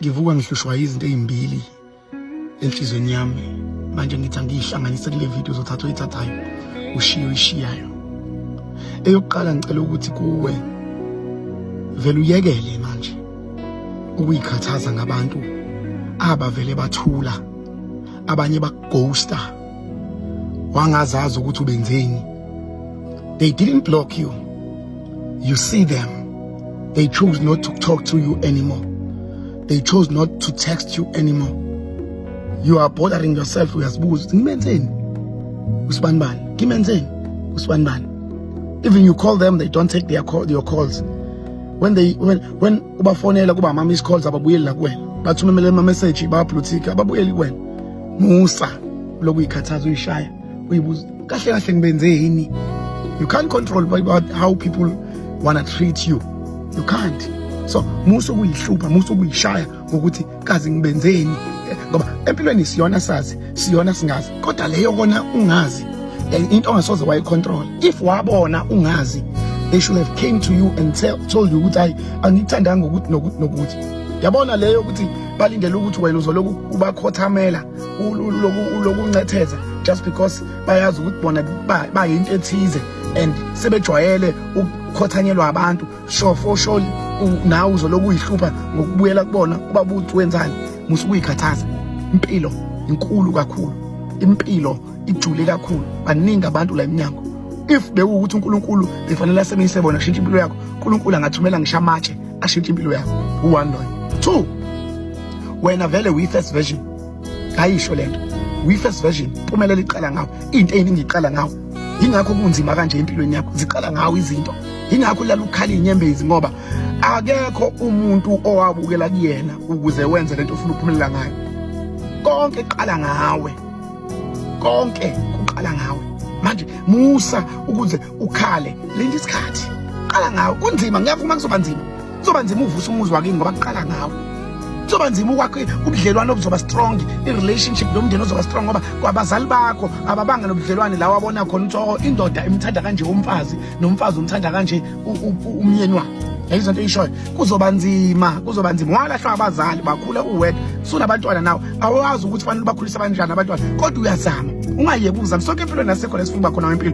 ngivuka ngihlushwa izinto ezimbili enhlizweni yami manje ngithi angiyihlanganise kule video zothatha oyithathayo ushiye oyishiyayo eyokuqala ngicela ukuthi kuwe vele uyekele manje ukuyikhathaza ngabantu abavele bathula abanye bakughosta wangazazi ukuthi ubenzeni they didn't block you you see them they chose not to talk to you anymore they chose not to text you anymore you are bothering yourself uyazibuza ukuthi ngimenzeni usibani bani ngimenzeni usibani bani even you call them they don't take their call, your calls when they when when ubafonela kuba ama miss calls ababuyeli la kuwena bathumemele ama message ba blue tick ababuyeli kuwena musa lokhu uyikhathaza uyishaya uyibuza kahle kahle ngibenze yini you can't control about how people wanna treat you you can't so musa ukuyihlupha musa ukuyishaya ngokuthi kazi ngibenzeni ngoba empilweni siyona sazi siyona singazi kodwa leyo kona ungazi into ongasoze wayicontrol if wabona ungazi they should have came to you and tell, told you ukuthi hayi angikuthandanga ngokuthi nokuthi nokuthi yabona leyo ukuthi balindele ukuthi wena uzoloku ubakhothamela uloku uncetheza just because bayazi ukuthi bona bayinto ethize and sebejwayele ukukhothanyelwa abantu sure for sure nawe uzoloku uyihlupha ngokubuyela kubona uba buthi wenzani musa ukuyikhathaza impilo inkulu kakhulu impilo ijule kakhulu baningi abantu la emnyango if bewukuthi uNkulunkulu befanele asebenze bona shintsha impilo yakho uNkulunkulu angathumela ngisho amatshe ashintshe impilo yakho u-one loyo two wena vele uyi-first version ayisho le nto uyi-first version pumelela iqala ngawo into eyiningi iqala ngawo yingakho kunzima kanje empilweni yakho ziqala ngawo izinto yingakho ulala ukukhala iy'nyembezi ngoba akekho umuntu owabukela kuyena ukuze wenze le nto ufuna ukuphumelela ngayo konke kuqala ngawe konke kuqala ngawe manje musa ukuze ukhale lento isikhathi qala ngawo kunzima ngiyavuma kuzoba nzima kuzoba nzima uvusa umuzi wakini ngoba kuqala ngawo kuzoba nzima ukwakhe ubudlelwane obuzoba strong i-relationship nomndeni ozoba strong ngoba kwabazali bakho ababanga nobudlelwane lawo abona khona ukuthi oh, indoda imthanda kanje umfazi nomfazi umthanda kanje umyeni wakhe yayi zonto eyishoyo kuzoba nzima kuzoba nzima walahlwa abazali bakhule uwedwa sunabantwana nawe awazi ukuthi fanele bakhulise abanjani abantwana kodwa uyazama ungayeki ukuzama sonke empilweni nasekhona esifunga khona wempilo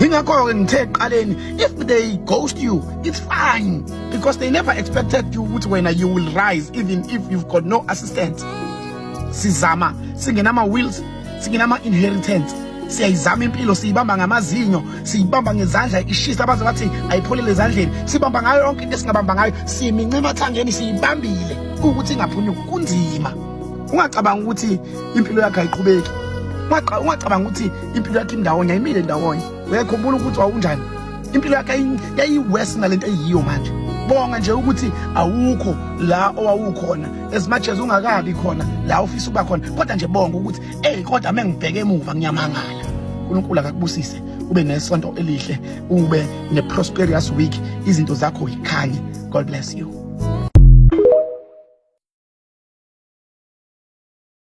Ingakho-ke ngithe ekuqaleni if they ghost you it's fine because they never expected you ukuthi wena you will rise even if you've got no assistance sizama singenama-wills singenama-inheritance siyayizama impilo siyibamba ngamazinyo siyibamba ngezandla ishisa abaze bathi ayipholele ezandleni sibamba ngayo yonke into esingabamba ngayo siyiminca emathangeni siyibambile ukuthi ingaphunyuki kunzima ungacabanga ukuthi impilo yakhe ayiqhubeki ungacabanga ukuthi impilo yakhe indawonye ayimile ndawonye uyayikhumbula ukuthi wawunjani impilo yakhe yayiwesi nalento eyiyo manje bonga nje ukuthi awukho la owawukhona as much as ungakabi khona la ufisa ukuba khona kodwa nje bonga ukuthi ey kodwa mengibheke emuva ngiyamangala uNkulunkulu akakubusise ube nesonto elihle ube ne prosperous week izinto zakho yikhanye god bless you